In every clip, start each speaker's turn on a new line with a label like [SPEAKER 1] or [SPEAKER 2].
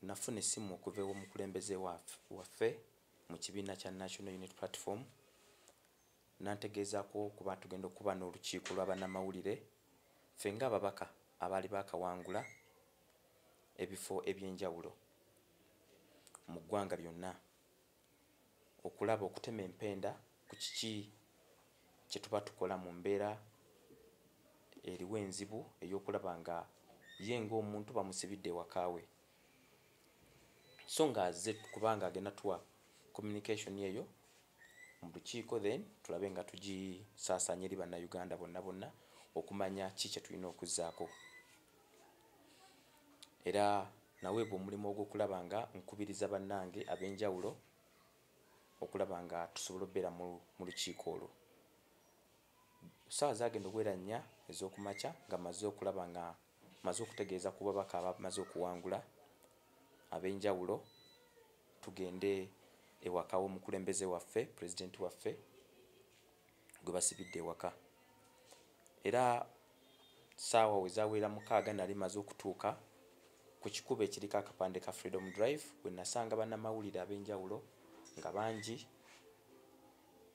[SPEAKER 1] Nafuna essimu okuva ew'omukulembeze waffe mu kibiina kya National Unit Platform n'antegeezaako okuba tugenda okuba n'olukiiko lwa bannamawulire ffe ng'ababaka abaali baakawangula ebifo eby'enjawulo mu ggwanga lyonna okulaba okutema empenda ku kiki kye tuba tukola mu mbeera eriwo enzibu ey'okulaba nga ye ng'omuntu bamusibidde ewaka we so nga azze kuba nga agenda tuwa communication eyo mu lukiiko then tulabe nga tugisaasaanya eri bannayuganda bonna bonna okumanya ki kye tulina okuzzaako. era naweebwa omulimu ogw'okulaba nga nkubiriza bannange ab'enjawulo okulaba nga tusobola okubeera mu lukiiko olwo. Essaawa zaagenda okubeera nnya ez'oku makya nga mmaze okulaba nga mmaze okutegeeza ku babaka abamaze okuwangula ab'enjawulo tugende ewaka w'omukulembeze waffe pulezidenti waffe gwe basibidde ewaka era saawa wezawera mukaaga nali maze okutuuka ku kikubo ekiriko akapande ka freedom drive we nasanga bannamawulire ab'enjawulo nga bangi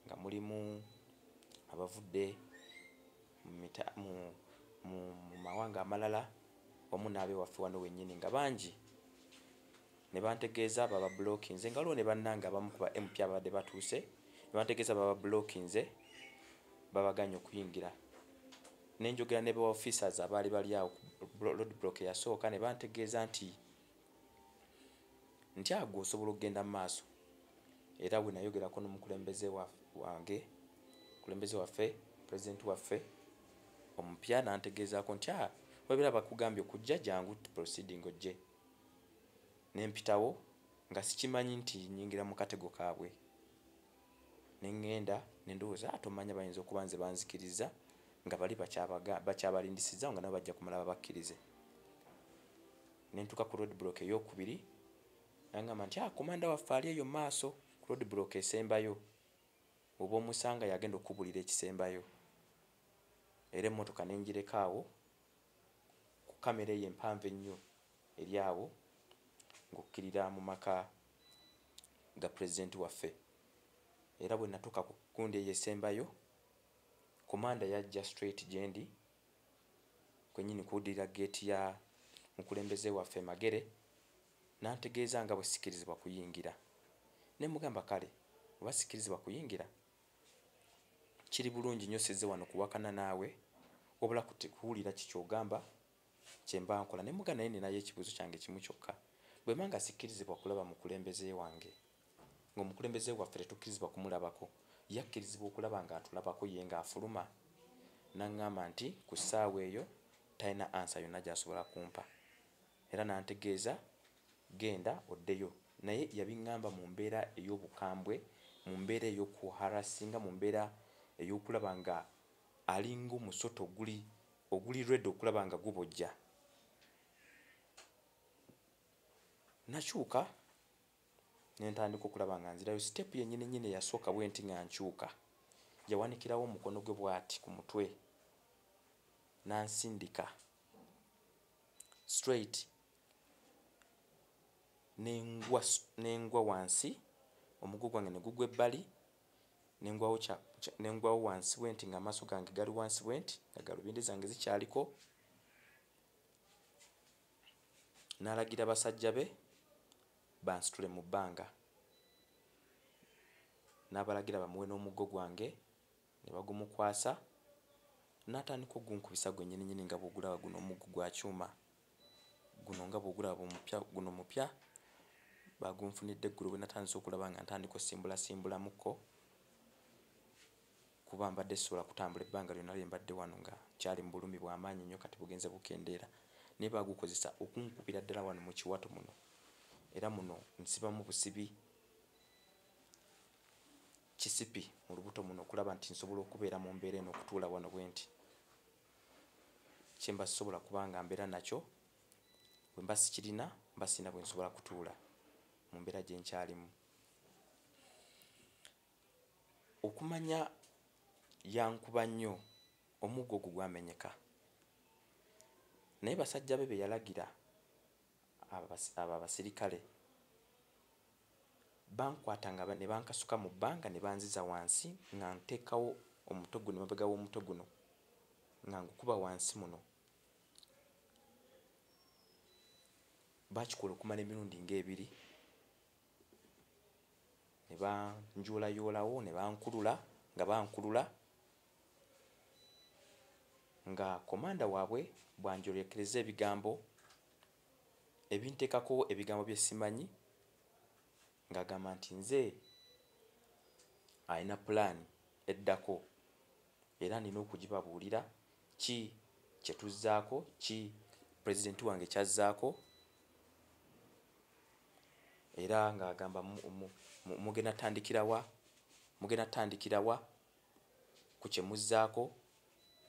[SPEAKER 1] nga mulimu abavudde mu mawanga amalala wamu n'abewaffe wano wennyini nga bangi ne bantegeeza bababulokinze nga waliwo ne bannange abamu ku ba mp ababadde batuuse ne bantegeeza bababulokinze babaganye okuyingira ne njogera ne ba officers abaali bali awo road block eyasooka ne bantegeeza nti nti agwe osobola okugenda mu maaso era we nayogerako n'omukulembeze wange omukulembeze waffe pulezidenti waffe omupya nantegeezaako nti a ah, webera bakugambye okujja jangu proceeding ojje ne mpitawo nga sikimanyi nti nnyingira mu katego kaabwe ne ŋŋenda ne ndowooza ate omanya bayinza okuba nze banzikirizza nga bali bakyabalindisizza nga nabo bajja kumala babakkirize ne ntuuka ku road block eyokubiri nangamba nti ah, komanda waffe ali eyo maaso ku road block esembayo oba omusanga yagenda okukubulira ekisembayo era emmotoka ne ngireka awo ku kkamera eyo empanvu ennyo eri awo ng'okkirira mu maka ga pulezidenti waffe era bwe natuuka ku gundi eyo esembayo komanda yajja straight gye ndi kwennyini kuwuddirira geeti ya mukulembeze waffe magere n'antegeeza nga bwe sikirizibwa kuyingira ne mugamba kale oba sikirizibwa kuyingira kiri bulungi nyo size wano kuwakana naawe wabula kuwulira kikyogamba kyemba nkola nemuga naye ninayo ekibuzo kyange kimu kyokka bwemba nga sikkirizibwa kulaba mukulembeze wange ngaomukulembeze waffe tetukkirizibwa kumulabako yakkirizibwa okulaba nga atulabako ye nga afuluma naŋŋamba nti ku ssaawa eyo talina ansa yonna gyasobola kumpa era n'antegeeza genda oddeyo naye yabing'amba mu mbeera ey'obukambwe, mu mbeera ey'okuharassinga, mu mbeera ey'okulaba nga alinga omusota oguli oguli ready okulaba nga gubojja. Nakyuka ne ntandika okulaba nga nzirayo. Sitepu yennyininnyini eyasooka bwenti nga nkyuka yawanikirawo omukono gwe bw'ati ku mutwe n'ansindika straight nengwa nengwa wansi omugu gwange ne gugwa ebbali nengwawo kya nengwawo wansi bwenti nga amaso gange gali wansi bwenti nga galubindi zange zikyaliko nalagira basajja be bansitule mu bbanga nabalagira bamuwe n'omuggo gwange ne bagumukwasa n'atandika ogunkubisa gwenyininyini nga bw'ogulaba guno omuggo gwa kyuma guno nga bw'ogulaba omupya guno mupya baagunfunidde eggulo bwe natandise okulaba nga ntandika osimbulasimbulamukko kuba mbadde sisobola kutambula ebbanga lyonna lye mbadde wano nga kyali mu bulumi bwa maanyi nnyo kati bugenze bukendeera naye baagukozesa okunkubira ddala wano mu kiwato muno era muno nsibamu busibi kisipi mu lubuto muno okulaba nti nsobola okubeera mu mbeera eno okutuula wano bwe nti kyemba sisobola kubanga mbeera nakyo bwe mba sikirina mba sirina bwe nsobola kutuula mu mbeera gye nkyalimu okumanya yankuba nnyo omuggo ogwo gwamenyeka naye basajja be be yalagira Abo abasirikale bankwata ne bankasuka mu bbanga ne banziza wansi nga nteekawo omutwe guno emabega w'omutwe guno nga ngukuba wansi muno. Baakikola okumala emirundi ng'ebiri ne banjuulayoolawo ne bankulula nga bankulula. nga komanda waabwe bw'anjolekeza ebigambo ebinteekako ebigambo bye simanyi ng'agamba nti nze alina pulaani eddako era nina okugibabuulira ki kye tuzzaako ki pulezidenti wange kyazzaako era ng'agamba mugenda tandikirawa mugenda tandikirawa ku kye muzzaako,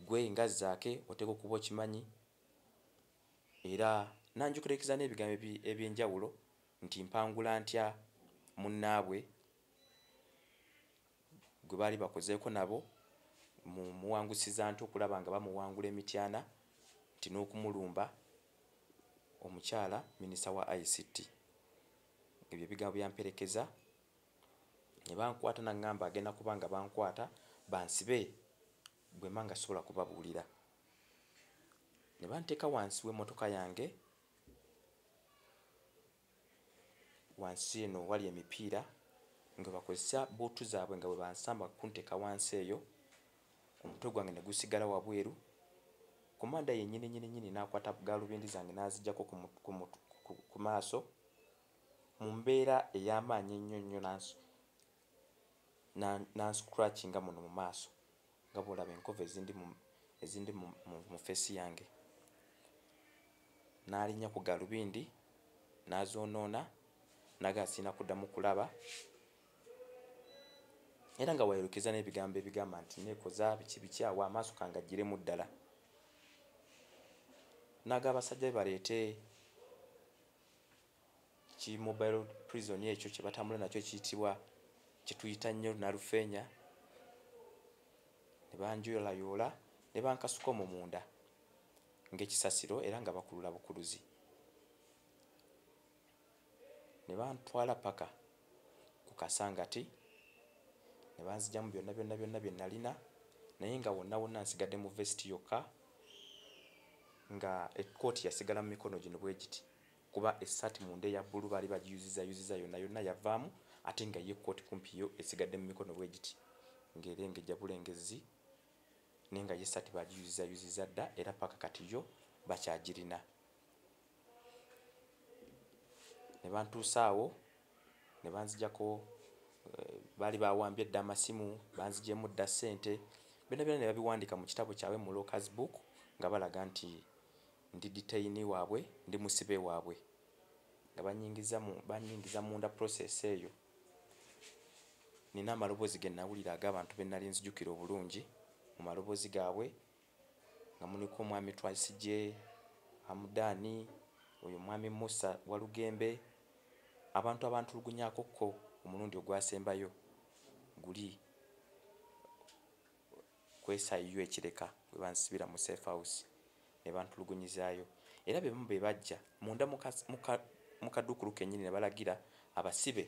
[SPEAKER 1] ggwe nga Zaake oteekwa okuba okimanyi era n'anjukirakiza n'ebigambo eby'enjawulo nti mpangula ntya munnaabwe gwe baali bakozeeko nabo mu muwangusiza nte okulaba nga bamuwangula e Mityana nti n'okumulumba omukyala minisita wa ICT. Ebyo ebigambo byamperekeza. nebankwata nangamba agenda kuba nga bankwata bansibe bwema nga sisobola kubabulira nebanteka wansi wemotoka yange wansi eno wali emipiira nga bakozesa buutu zaabwe nga bwebansamba kunteka wansi eyo omutwe gwange negusigala wabweru komanda yenyini nyini nyini nakwata galubindi zange nazijako ku maaso mu mbeera ey'amaanyi ennyo nnyo n'ansu, n'a, n'anscratchinga muno mu maaso, nga bw'olaba enkovu ezindi mu, ezindi mu, mu, mu ffeesi yange. N'alinnya ku galubindi, n'azoonoona, n'agamba, Sirina kuddamu kulaba. Era nga bw'ayolekezza n'ebigambo ebigamba nti, Nneekoza, biki biki awo, amaaso kangaggyiremu ddala. N'agamba abasajja be baleete. ki mobile prison ekyo kye batambula nakyo kiyitibwa kye tuyita nnyo nalufeenya ne banjoyolayoola ne bankasuka omwo munda ng'ekisasiro era nga bakulula bukuluzi ne bantwala paka ku Kasangati ne banzigyamu byonna byonna byonna bye nalina naye nga wonna wonna nsigadde mu vest yokka nga ekkooti yasigala mu mikono gino bwe giti kuba essaati munda eya bbulu baali bagiyuzizaayuziza yonna yonna yavaamu ate nga ye ekkooti kumpi yo esigadde mu mikono bwe giti ng'erengejja bulengezzi naye nga ye essaati bagiyuzizaayuziza dda era paka kati yo bakyagirina. ne bantuusa awo ne banzijako eh, baali bawambye dda amasimu banzijemu dda ssente byona byona ne babiwandika mu kitabo kyabwe mu locas book nga balaga nti ndi detaini waabwe ndi musibe waabwe nga banyingiza munda process eyo nina amaloboozi ge nawulira ag'abantu be nali nzijukira obulungi mu maloboozi gaabwe nga muliko mwami Twaisije, Hamudani, oyo mwami Musa Walugembe, abantu abantulugunyako ko omulundi ogwasembayo guli ku SIU e Kireka webansibira mu safe house nebantulugunyizayo era bebamu bebajja munda mu kadukulu kenyini nebalagira abasibe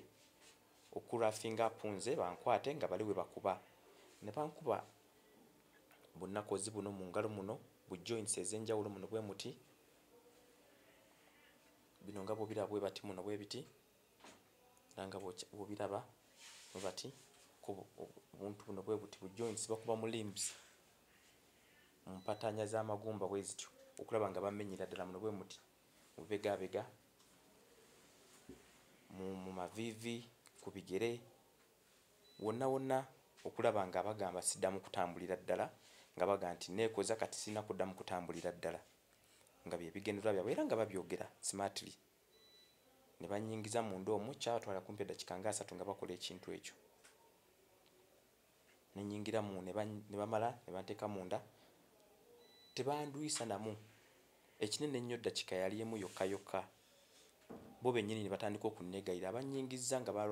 [SPEAKER 1] okurafinga apunze bankwate nga bali webakuba nebankuba bunnakozi buno mu ngalo muno bu joints ez'enjawulo muno bwe muti bino nga bwobiraba bwe bati muno bwe biti era nga bwobiraba bwe bati obuntu buno bwe buti bu joints bakuba mu limbs mu mpataanya z'amagumba bwe zityo okulaba nga bamenyera ddala muno bwe muti mubegabega mu maviivi ku bigere wonna wonna okulaba nga bagamba siddamu kutambulira ddala nga baga nti neekoza kati sirina kuddamu kutambulira ddala nga bye bigendererwa byabwe era nga babyogera smartly ne bannyingiza munda omu kyabatwala kumpi eddakiika nga asatu nga bakola ekintu ekyo ne nnyingira mu ne bamala ne banteeka munda tebandwisa namu Ekinene ennyo ddakika yali emu yokka yokka bo bennyini ne batandika okunneegayirira. Bannyingizza nga ba,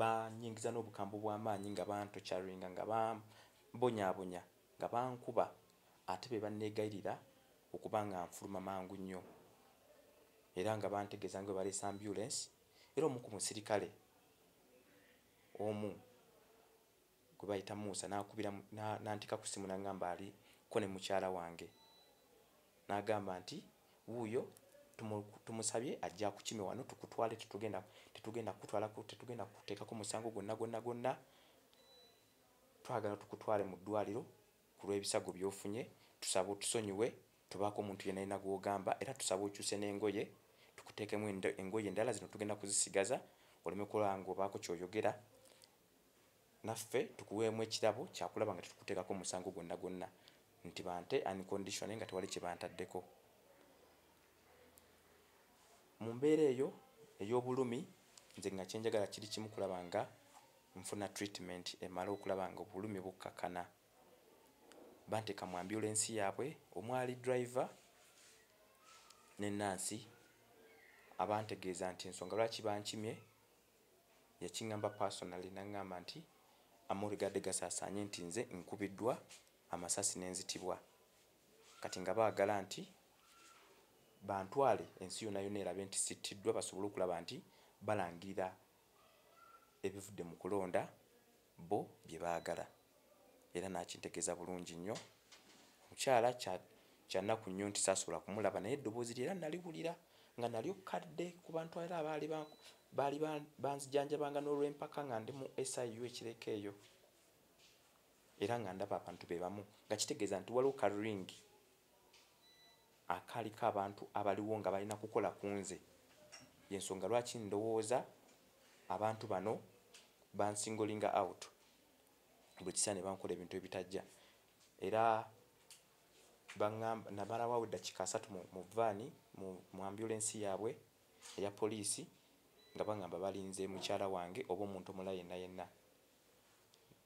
[SPEAKER 1] bannyingiza n'obukambwe obw'amaanyi, nga bantocaringa, nga bambonyaabonya, nga bankuba. Ate be banneegayirira okuba nga nfuluma mangu nnyo. Era nga bantegeeza nga bwe baleese ambyulensi, era omu ku musirikale omu gwe bayita Musa n'akubira n'antika ku ssimu n'agamba ali ko ne mukyala wange n'agamba nti wuuyo tumusabye ajja kukime wano tukutwale tetugenda tetugenda kukutwala tetugenda kuteekako musango gwonna gwonna gwonna twagala tukutwale mu ddwaliro ku lw'ebisago by'ofunye tusaba otusonyiwe tubaako omuntu yenna yenna gw'ogamba era tusaba okyuse n'engoye tukuteekemu engoye endala zino tugenda kuzisigaza oleme kulaba ng'obaako ky'oyogera naffe tukuweemu ekirabo kyakulaba nga tetukuteekako musango gwonna gwonna nti bante unconditionally nga tewali kyebantaddeko mu mbeera eyo ey'obulumi nze nga kyenjagala kiri kimu kulaba nga nfuna treatment emala okulaba nga obulumi bukkakana banteeka mu ambulensi yaabwe omwali driver ne nansi abantegeeza nti ensonga lwaki bankimye yakingamba personally nangamba nti Amory gade gasasanye nti nze nkubidwa amasasi nenzitibwa kati nga bagala nti bantwale ensi yona yona elabe nti sitidwa basobole okulaba nti balangirira ebivudde mukulonda bo bye baagala era n'akintegeeza bulungi nnyo. Mukyala kya kya nnaku nnyo nti saasobola kumulaba naye eddoboozi lye era nnaliwulira nga nalyo kadde ku bantu era abaali baali banzijanjabanga n'olw'empaka nga ndi mu SIU e Kireka eyo era nga ndaba abantu be bamu nga kitegeeza nti waliwo ka ringi akaaliko abantu abaliwo nga balina kukola ku nze yensonga lwaki ndowooza abantu bano bansingolinga out bwekisa nebankola ebintu ebitajja era baamba namalawawo eddakika asatu mu vaani mu ambulensi yaabwe eya poliisi nga baŋamba balinze mukyala wange oba omuntu omula yenna yenna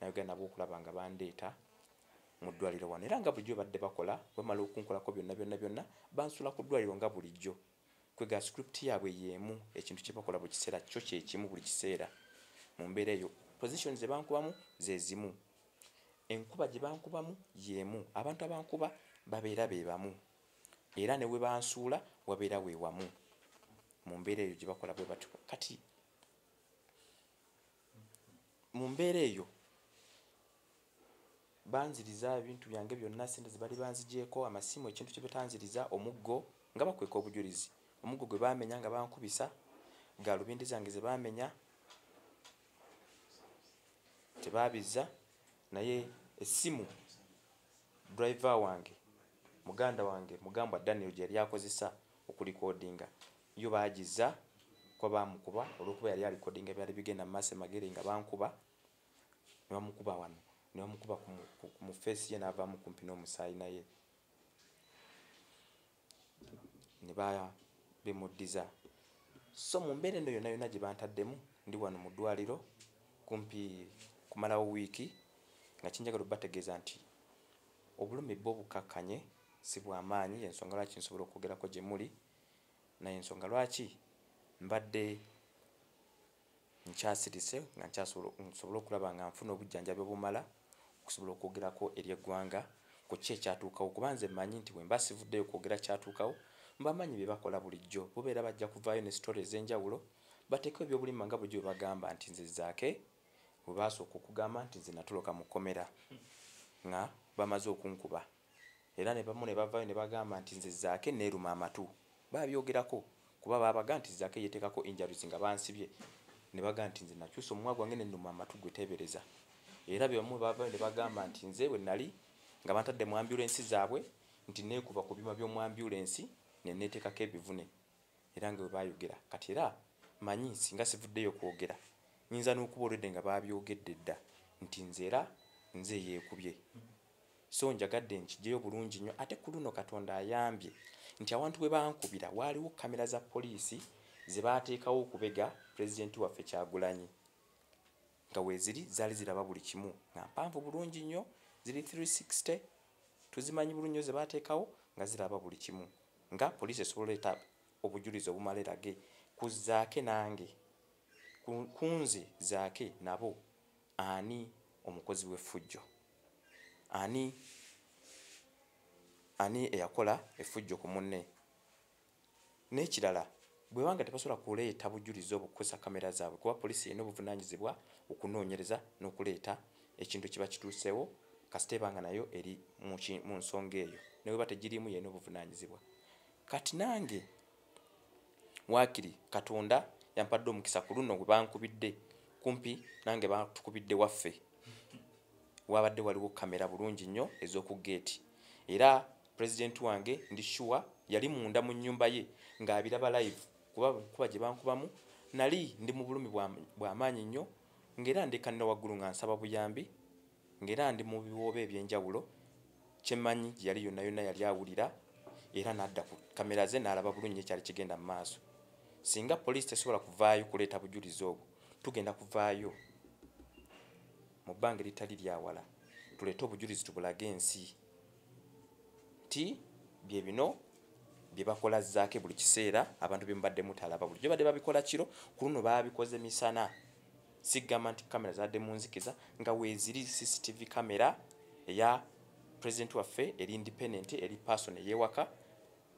[SPEAKER 1] nayogera nabo okulaba nga bandeeta mu ddwaliro wano era nga bulijjo badde bakola wemala okunkolako byonna byonna byonna bansula ku ddwaliro nga bulijjo kwega script yaabwe yeemu ekintu kye bakola buli kiseera kyo kyekimu buli kiseera mu mbeera eyo position ze bankubamu ze zimu enkuba gye bankubamu yeemu abantu abankuba babeera be bamu era ne we bansuula wabeera we wamu mu mbeera eyo gye bakola bwe batyo kati mu mbeera eyo banziriza ebintu byange byonna sente zebali banzigyeko amasimu ekintu kyebetanziriza omuggo nga bakweka obujulizi omuggo gwe bamenya nga bankubisa galubindi zange zebamenya tebabizza naye essimu driver wange muganda wange mugambwa daniel gyeyali akozesa okulikodinga yo bagiza kuba bamukuba olwokuba yali alikodinga byali bigenda mu maaso emagere nga bankuba ne bamukuba wano ne bamukuba mu feesi ye n'avaamu kumpi n'omusaayi naye ne bemuddiza so mu mbeera eno yonna yonna gye bantaddemu ndi wano mu ddwaliro kumpi kumalawo wiiki nga kinjagala obategeeza nti Obulumi bwo bukkakkanye, si bwa maanyi, y'ensonga lwaki nsobola okwogerako gye muli, na y'ensonga lwaki mbadde nkyasirise nga nkyasobola, nsobole okulaba nga nfuna obujjanjabi obumala okusobola okwogerako eri eggwanga ku ki ekyatuukawo, kuba nze mmanyi nti bwe mba sivuddeyo kwogera kyatuukawo, mbamanyi bye bakola bulijjo, bo beera bajja kuvaayo ne story ez'enjawulo, bateekewo eby'obulimba nga bulijjo bwe bagamba nti nze Zaake, webaasooka okugamba nti nze natoloka mu kkomera nga bamaze okunkuba era nebamu ne bavayo ne bagamba nti nze zaake neeruma amatu babyogerako kuba baabaga nti zaake yeteekako injuries nga bansibye ne baga nti nze nakyusa omumwa gwange nenuma amatu gwe teebereza era bebamu bavayo ne bagamba nti nze bwe nali nga bantadde mu ambyulensi zaabwe nti neekuba ku byuma by'omu ambyulensi ne neeteekako ebivune era nga webayogera kati era manyi singa sivuddeyo kwogera nyinza n'okuba olwedde nga babyogedde dda nti nze era nze yeekubye so njagadde nkijeyo bulungi nnyo ate ku luno katonda ayambye nti awantu bwe bankubira waaliwo kamera za poliisi ze baateekawo okubega pulezidenti waffe kyagulanyi nga weeziri zaali ziraba buli kimu nga mpanvu bulungi nnyo ziri 360 tuzimanyi bulungi nnyo ze baateekawo nga ziraba buli kimu nga poliisi esobola oleeta obujulizi obumala erage ku zaake nange kunze zaake nabo ani omukozi w'effujjo ani ani eyakola effujjo ku munne n'ekirala Bweba nga tebasobola kuleeta bujulizi obwo kukozesa kamera zaabwe kuba poliisi erina obuvunaanyizibwa okunoonyereza n'okuleeta ekintu ekiba kituuseewo kasita eba nga nayo eri mu nsonga eyo ne bweba tegiriimu yalina obuvunaanyizibwa. Kati nange waakiri Katonda yampadde omukisa ku luno we bankubidde kumpi nange batukubidde waffe waabadde waliwo kamera bulungi nnyo ez'oku geeti era president wange ndi sure yali munda mu nyumba ye nga abiraba live kuba kuba gye bankubamu nali ndi mu bulumi bwa bwa maanyi nnyo ngera ndi kanira waggulu nga nsaba buyambi ngera ndi mu biwoobe ebyenjawulo kyemanyi gye yali yonna yonna yali awulira era n'adda ku kamera ze n'alaba bulungi ekyali kigenda mu maaso singa poliisi tesobola kuvaayo kuleeta bujulizi obwo tugenda kuvaayo mu bbanga eritali lyawala tuleete obujulizi tubulage ensi nti bye bino bye bakola zaake buli kiseera abantu bye mubadde mutalaba bulijjo badde babikola kiro ku luno babikoze misana sigamba nti kamera zadde mu nzikiza nga weeziri cctv kamera eya president waffe eri independent eri person eyewaka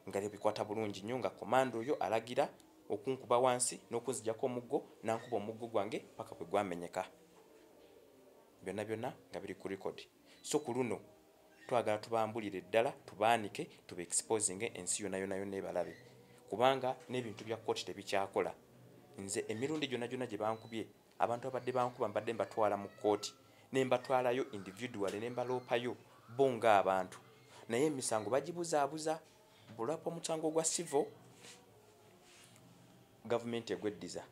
[SPEAKER 1] nga lyebikwata bulungi nnyo nga komanda oyo alagira okunkuba wansi n'okunzijako omuggo nankuba omuggo gwange paka kwe gwamenyeka byonna byonna nga biri ku record so ku luno twagala tubambulire ddala tubaanike tuba exposinge ensi yona yona yona ebalabe kubanga n'ebintu bya kooti tebikyakola nze emirundi gyona gyona gye bankubye abantu abadde bankuba mbadde mbatwala mu kooti ne mbatwalayo individuale ne mbaloopayo bo ng'abantu naye emisango bagibuzaabuza bulapa omusango gwa sivo gavumenti egweddiza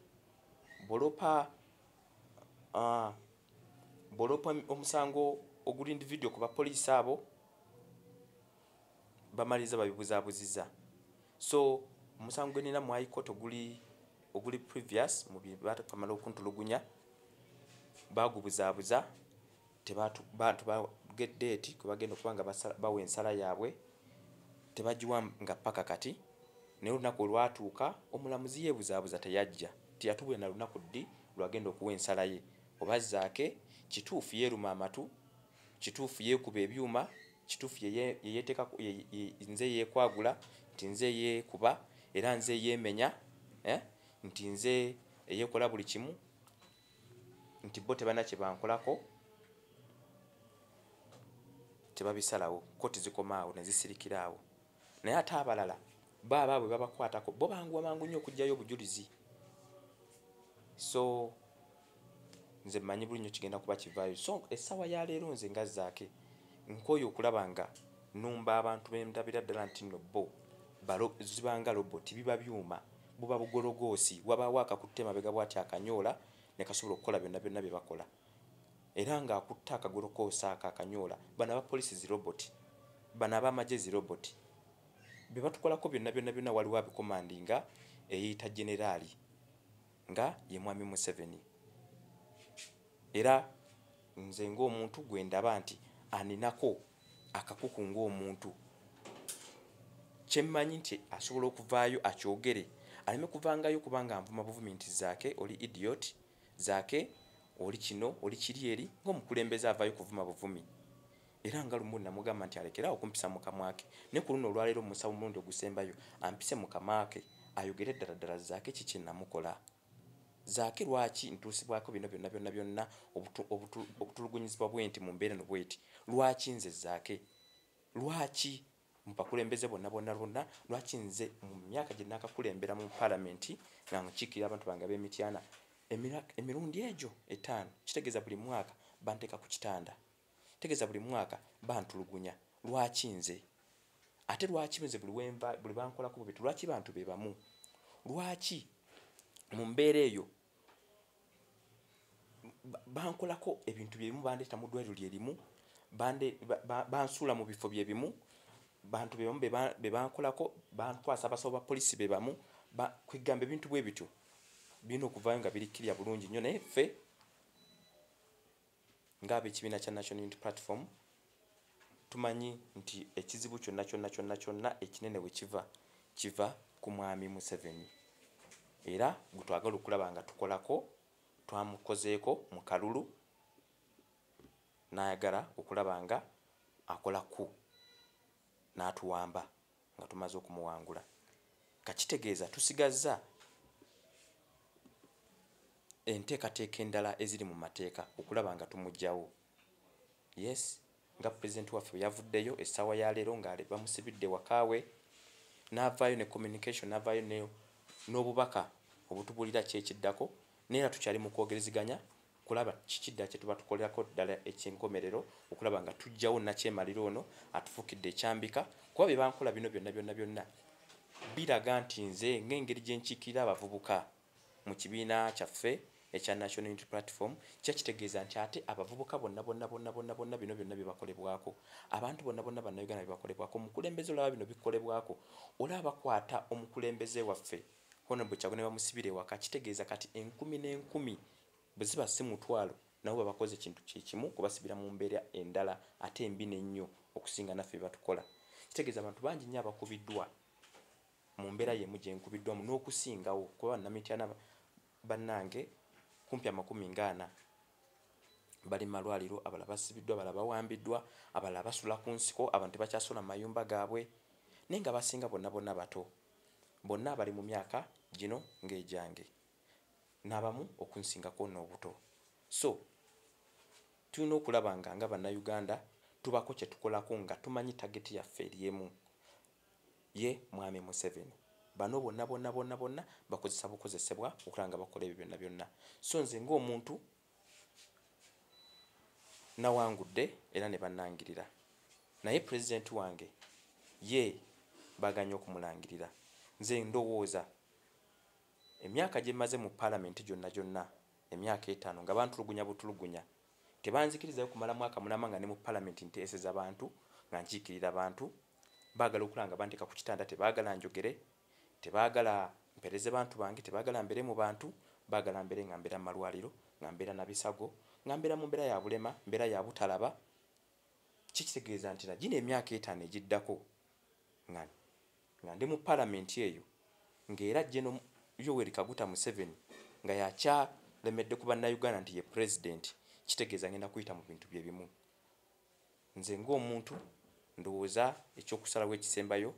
[SPEAKER 1] bulopa uh, ah, bwoloopa omusango oguli individual ku bapoliisi abo bamaliriza babibuzabuziza so omusango gwenina mu high court oguli oguli previous mu byebakamala okuntulugunya bagubuzabuza tebantu baget date kwe bagenda okuba nga bawa ensala yaabwe tebagiwa nga paka kati naye olunaku olwatuuka omulamuzi yebuzabuza teyajja tiyatubulira na lunaku ddi lwagenda okuwa ensala ye oba zaake kituufu yeeruma amatu kituufu yeekuba ebyuma kituufu yeyeteeka nze yeekwagula nti nze yeekuba era nze yeemenya eh, nti nze eyeekola buli kimu nti bo tebana kye bankolako tebabisalawo koti zikomaawo nezisirikiraawo naye ate abalala baaba bwe babakwatako bo banguwa mangu nnyo okugyayo obujulizi so nze mmanyi buli nnyo kigenda kuba kivaayo so essaawa ya leero nze nga zaake nkooyo okulaba nga numba abantu bendabira ddala nti no bo zibanga lobot biba byuma buba bugologoosi wabaawo akakutte mabega bwati akanyoola ne kasobola okukola byonna byonna bye bakola era nga akutte akagolo kosaaka akanyoola bano aba police zi robot bano aba maje zi robot bebatukolako byonna byonna byonna waliwo abikomandi nga eyeyita generali nga ye mwami museveni era nze ngaomuntu gwendaba nti aninako akakuku ngaomuntu kyemmanyi nti asobola okuvaayo akyogere aleme kuvangayo kubanga nvuma buvumi nti zaake oli idiot Zaake oli kino oli kiri eri ng'omukulembeze avaayo kuvuma buvumi era nga lumu namugamba nti alekere awo kumpisa mu kamwa ke ne ku luno olwaleero omusaba omulundi ogusembayo ampise mu kamwa ke ayogere ddala ddala zaake ki kye namukola zaake lwaki ntuusibwako bino byonna byonna byonna okutulugunyizibwa bwenti mu mbeera no bweti lwaki nze zaake lwaki mubakulembeze bonna bonna lwonna lwaki nze mu myaka gye nakakulembera mu palamenti nga nkiikirira abantu bange ab'emityana emirundi egyo etaano kitegeeza buli mwaka banteeka ku kitanda tegeeza buli mwaka bantulugunya lwaki nze ate lwaki nze buli wenva buli bankolako bubiti lwaki bantu be bamu lwaki mu mbeera eyo bankolako ebintu byebimu bandeeta mu ddwaliro lyerimu bansuula mu bifo byebimu bantu bebamu bebankolako bantwasa abasawo ba polisi bebamu kwegamba ebintu bwe bityo birina okuvaayo nga birikkirya bulungi nnyo naye ffe Ng'ab'ekibiina kya National Unity Platform, tumanyi nti ekizibu kyonna kyonna kyonna kyonna ekinene we kiva, kiva ku Mwami Museveni era gwe twagala okulaba nga tukolako, twamukozeeko mu kalulu n'ayagala okulaba ng'akola ku n'atuwamba. nga tumaze okumuwangula nga kitegeeza tusigazza enteekateeka endala eziri mu mateeka okulaba nga tumugyawo yes nga pulezidenti waffe bwe yavuddeyo essaawa ya leero nga bamusibidde wakaawe n'avaayo ne communication n'avaayo n'obubaka obutubulira kyekiddako naye era tukyali mu kwogereziganya kulaba kiki ddala kye tuba tukolerako ddala eky'enkomerero okulaba nga tujjawo nakyemalira ono atufukidde ekyambika kuba bye bankola bino byonna byonna byonna biraga nti nze ng'engeri gye nkiikirira abavubuka mu kibiina kyaffe ekya national unity platform kya kitegeeza nti ate abavubuka bonna bonna bonna bonna bonna bino byonna bye bakolebwako abantu bonna bonna bannayuganda bye bakolebwako omukulembeze olaba bino bikolebwako olaba bakwata omukulembeze waffe hono bwe kyagwa ne bamusibira ewaka kitegeeza kati enkumi n'enkumi Bweziba si mutwalo nabo babakoze kintu kyekimu kubasibira mu mbeera endala ate embi nennyo okusinga naffe byebatukola. Kitegeeza abantu bangi nnyo abakubiddwa mu mbeera yemu gyenkubiddwamu n'okusingawo kuba Bannamityana bannange kumpi amakumi nga ana bali malwaliro, abalala basibiddwa, abalala bawambiddwa, abalala basula ku nsiko, abantu tebakyasula mu mayumba gaabwe naye nga abasinga bonna bonna bato bonna bali mu myaka gino ng'egyange. nabamu okunsingako nobuto so tulina okulaba nga nga banauganda tubako kyetukolako nga tumanyi tageti yaffe eryemu ye mwami museveni bano bonna bonna bonna bonna bakozesa bukozesebwa okulaba nga bakola ebyo byonna byonna so nze ngaomuntu nawangudde era ne banangirira naye pulezidenti wange ye baganye okumulangirira nze ndowooza Emyaka gye mmaze mu Palamenti gyonna gyonna emyaka etaano nga bantulugunya butulugunya, tebanzikirizayo kumala mwaka mulamba nga ne mu Palamenti nteeseza bantu, nga nkiikirira bantu. Baagala okulaba nga banteeka ku kitanda, tebaagala njogere, tebaagala mpeereze bantu bange, tebaagala mbeere mu bantu, baagala mbeere nga mbeera mu malwaliro, nga mbeera na bisago, nga mbeera mu mbeera ya bulema, mbeera ya butalaba. Kiki kitegeeza nti na gino emyaka etaano egiddako nga Nga ndi mu Palamenti eyo, nga era Geno. Yoweri Kaguta Museveni nga y'akyalemedde ku Bannayuganda nti ye Pulezidenti, kitegeeza ngenda kuyita mu bintu bye bimu. Nze ng'omuntu ndowooza eky'okusalawo ekisembayo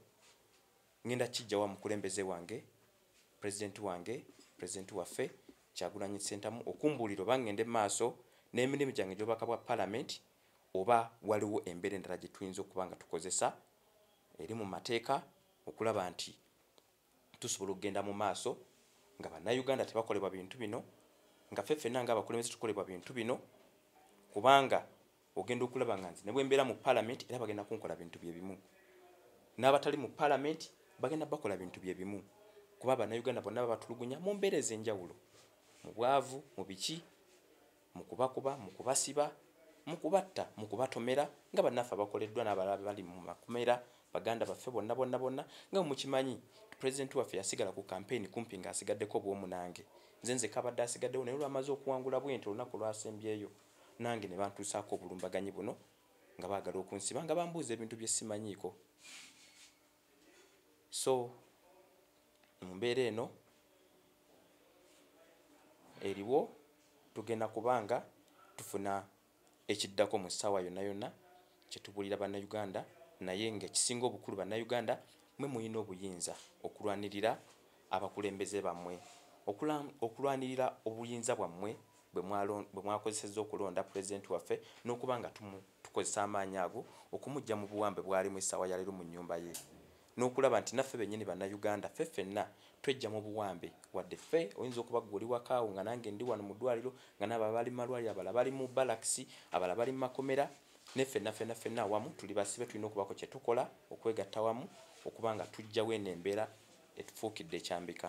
[SPEAKER 1] ngenda kukiggya wa mukulembeze wange, Pulezidenti wange, Pulezidenti waffe Kyagulanyi Ssentamu okumbuulira oba ngende mu maaso n'emirimu gyange egy'obubaka bwa Palamenti oba waliwo embeera endala gye tuyinza okuba nga tukozesa eri mu mateeka okulaba nti tusobola okugenda mu maaso nga bannayuganda tebakolebwa bintu bino nga fe fenna nga abakulembeze tukolebwa bintu bino kubanga ogenda okulaba nga nze ne bwe mbeera mu palamenti era bagenda kunkola bintu bye bimu n'abatali mu palamenti bagenda bakola bintu bye bimu kuba bannayuganda bonna babatulugunya mu mbeera ez'enjawulo mu bwavu mu biki mu kubakuba, mu kubasiba, mu kubatta, mu kubatomera nga bannaffe abakoleddwa n'abalala bali mu makomera baganda baffe bonna bonna bonna nga mukimanyi pulezidenti waffe yasigala ku kampeyini kumpi ng'asigaddeko obwomu nange nze nzeka abadde asigaddewo naye olwamaze okuwangula bwenti olunaku lwasembyeyo nange ne bantuusaako obulumbaganyi buno nga baagala okunsiba nga bambuuza ebintu bye simanyiiko so mu mbeera eno eriwo tugenda kubanga tufuna ekiddako mu ssaawa yonna yonna kyetubuulira bannayuganda naye nga ekisinga obukulu bannayuganda mwe mulina obuyinza okulwanirira abakulembeze bammwe okulwanirira obuyinza bwammwe bwe mwakozesezza okulonda Pulezidenti waffe n'okuba nga tukozesa amaanyi ago okumuggya mu buwambe bw'alimu essaawa ya leero mu nnyumba ye n'okulaba nti naffe bennyini Bannayuganda ffe ffenna twejja mu buwambe wadde ffe oyinza okuba gwe oli wakaawo nga nange ndi wano mu ddwaliro nga naabo abali mu malwaliro abala bali mu balakisi abala bali mu makomera ne ffenna ffenna ffenna awamu tuli basibe tulina okubaako kye tukola okwegatta wamu okuba nga tujjawo eno embeera etufuukidde ekyambika.